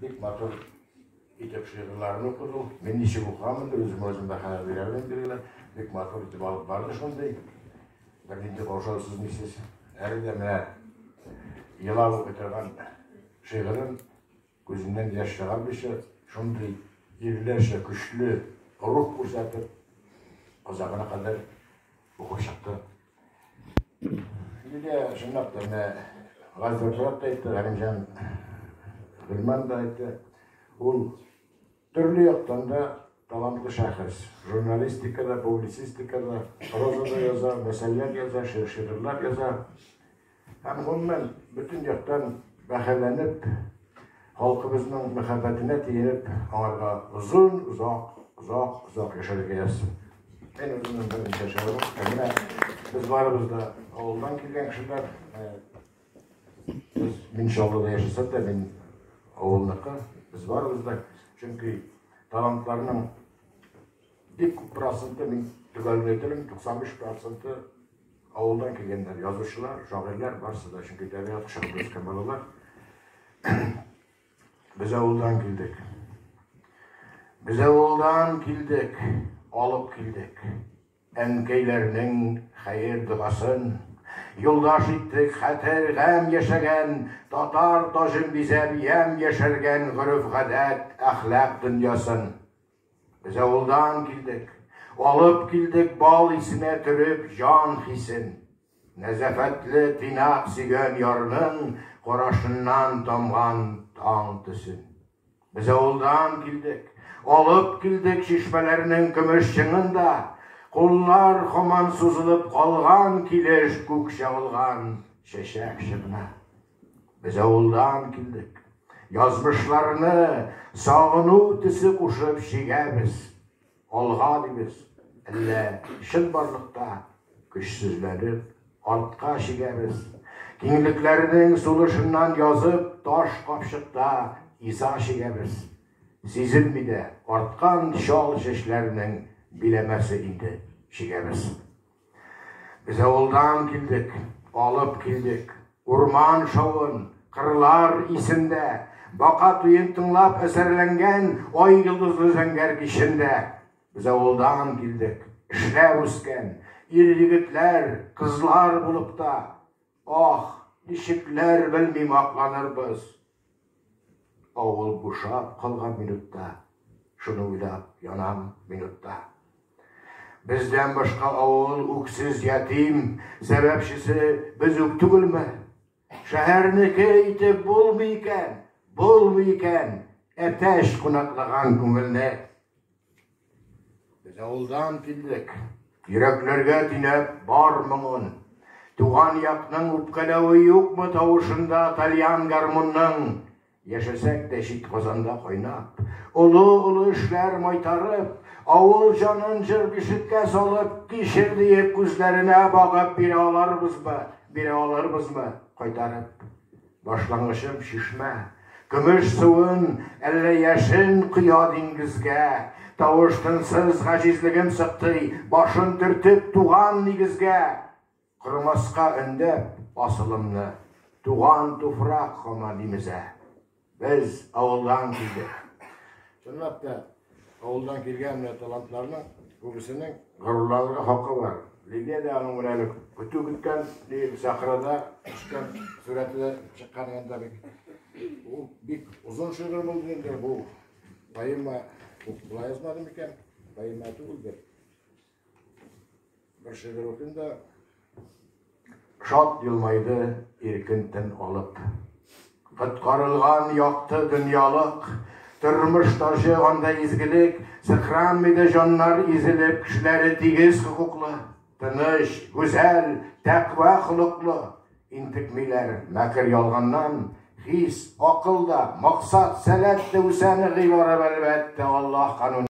Бик матур итеп шигырьләрен укыду. Мин ничек укыган инде, үзем үзем дә хәләл бирәм инде генә. Бик матур итеп алып барды шундый. Бер нинди каушаусыз мисез. Әле дә менә елап укый торган шигырен күзеннән яшь чыгармыйча, шундый ирләрчә көчле рух күрсәтеп, озагына кадәр укып чыкты. Нигә шундый тәмә газәпләп әйтте, Галимҗан Гөлман да әйтте. Ул төрле яктан да талантлы шәхес. Журналистикада, публицистикада, прозада яза, мәсәлләр яза, шигырьләр яза. Һәм, гомумән, бөтен яктан бәһаләнеп, халкыбызның мәхәббәтенә тиенеп, аңарга озын, озак, озак, озак яшәргә язсын. Мин үземнең берничә шигырем китә. Менә без барыбыз да авылдан килгән кешеләр. Без мин Чаллыда яшәсәм дә, мин авылныкы. Без барыбыз да, чөнки талантларның бик күп проценты мин төгәлләтелем, 95 проценты Авылдан килгәннәр, язучылар, шагыйрьләр, барысы да, чөнки табигать кочагында үскән балалар. Без авылдан килдек. Без авылдан килдек, алып килдек. Әнкәйләрнең хәер догасын юлдаш иттек, хәтер гам яшәгән, татар таҗын бизәп, ямь яшәргән гореф-гадәт, әхлак дөньясын. Без авылдан килдек. Алып килдек бал исенә төреп җан хисен. Нәзәфәтле тыйнак сөйгән ярның карашыннан тамган таң төсен. Без авылдан килдек. Алып килдек чишмәләрнең көмеш чыңын да. Куллар хаман сузылып калган килеш күк чагылган чәчәк чыгына. Без авылдан килдек. Язмышларны сагыну төсе кушып чигәбез. Алга дибез. Әллә чынбарлыкта көчсезләнеп, артка чигәбез. Киңлекләрнең сулышыннан язып, таш капчыкта иза чигәбез. Сизенми дә арткан чал чәчләрнең биләмәсе инде чигәбез. Без авылдан килдек, алып килдек. Урман шавын, кырлар исендә, Бака туен тыңлап әсәрләнгән Ай йолдызлы зәңгәр кичендә. Без авылдан килдек, эшләп үскән, Ир-егетләр, кызлар булып та. Аһ, ничекләр белмим акланырбыз. Авыл бушап калган минутта, шуны уйлап янам минутта. Бездән башка авыл үксез ятим, сәбәпчесе без үк түгелме? Шәһәрнеке итеп булмый икән, булмый икән, әтәч кунаклаган күңелне. Без авылдан килдек. Йөрәкләргә тинәп бар моңын. Туган якның үпкәләве юкмы тавышында тальян гармунның? Яшәсәк тә чит Казанда кайнап, олы-олы эшләр майтарып, авыл җанын җыр бишеккә салып, кичер диеп күзләренә багып бирә аларбызбы, бирә алырбызмы кайтарып? Башлангычым чишмә. Көмеш суын, әллә яшен коя диңгезгә. Тавыш-тынсыз гаҗизлегем сыктый, башын төртеп, туган нигезгә. Кормаска өндәп асылымны, туган туфрак һаман имезә. Без авылдан килдек. Чынлап та, Авылдан килгән менә талантларның күбесенең горурланырга хакы бар. Лилия дә аның менә әле көтү көткән, диеп сахрада төшкән сурәтле чыккан янда бик. Ул бик озын шигырь булды инде бу. Поэма була язмадым икән, поэма түгелдер. Бер шигырь укыйм да. Шат елмайды иркен тын алып. Коткарылган якты дөньялык, тормыш таҗы анда изгелек, сыкранмый да җаннар изелеп, кешеләре тигез хокуклы, тыныч, гүзәл, тәкъва холыклы, интекмиләр мәкер ялганнан, хис, акыл да, максат, сәләт тә үсә ныгый барып, әлбәттә, Аллаһ кануны.